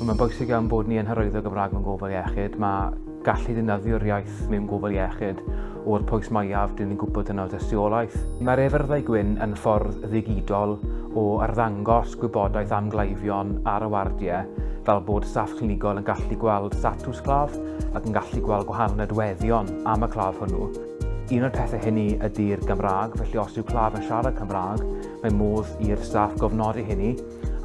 Mae'n bwysig iawn bod ni yn hyrwyddo Gymraeg mewn gofal iechyd. Mae gallu ddefnyddio'r iaith mewn gofal iechyd o'r pwys mwyaf dyn ni'n gwybod yno dystiolaeth. Mae'r efyrddau gwyn yn ffordd ddigidol o arddangos gwybodaeth am gleifion ar y wardiau, fel bod staff clinigol yn gallu gweld statws claf ac yn gallu gweld gwahanol nodweddion am y claf hwnnw. Un o'r pethau hynny ydy'r Gymraeg, felly os yw claf yn siarad Cymraeg, mae modd i'r staff gofnodi hynny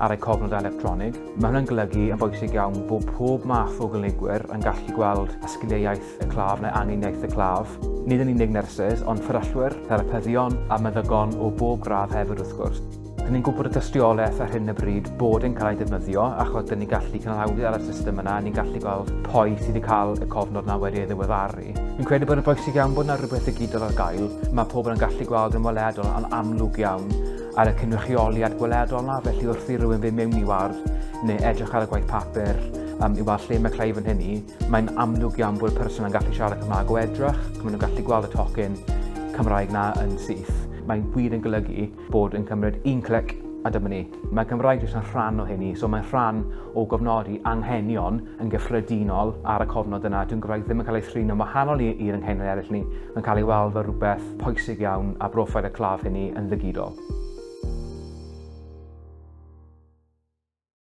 ar eu cofnodau electronig. Mae hwnna'n golygu yn bwysig iawn bod pob math o gynigwyr yn gallu gweld y sgiliau iaith y claf neu angen iaith y claf. Nid yn unig nyrsys, ond fferyllwyr, therapyddion a meddygon o bob gradd hefyd wrth gwrs. Dyn ni'n gwybod y dystiolaeth ar hyn y bryd bod yn cael ei defnyddio achos dyn ni'n gallu cynhaliwyd ar y system yna, ni'n gallu gweld pwy sydd wedi cael y cofnod yna wedi ei ddiweddaru. Fi'n credu bod yn bwysig iawn bod yna rhywbeth ddigidol ar gael, mae pobl yn gallu gweld yn weledol yn amlwg iawn ar y cynrychioliad gweledol yna, felly wrth i rywun fynd mewn i ward neu edrych ar y gwaith papur um, i weld lle mae Clive yn hynny, mae'n amlwg iawn bod y person yn gallu siarad Cymraeg o edrych, maen nhw'n gallu gweld y tocyn Cymraeg na yn syth. Mae'n wir yn golygu bod yn cymryd un clic a dyma ni. Mae Cymraeg jyst yn rhan o hynny, so mae'n rhan o gofnodi anghenion yn gyffredinol ar y cofnod yna. Dwi'n Gymraeg ddim yn cael ei thrin yn wahanol i'r anghenion eraill ni. Mae'n cael ei weld fel rhywbeth pwysig iawn a broffil y claf hynny yn ddigidol.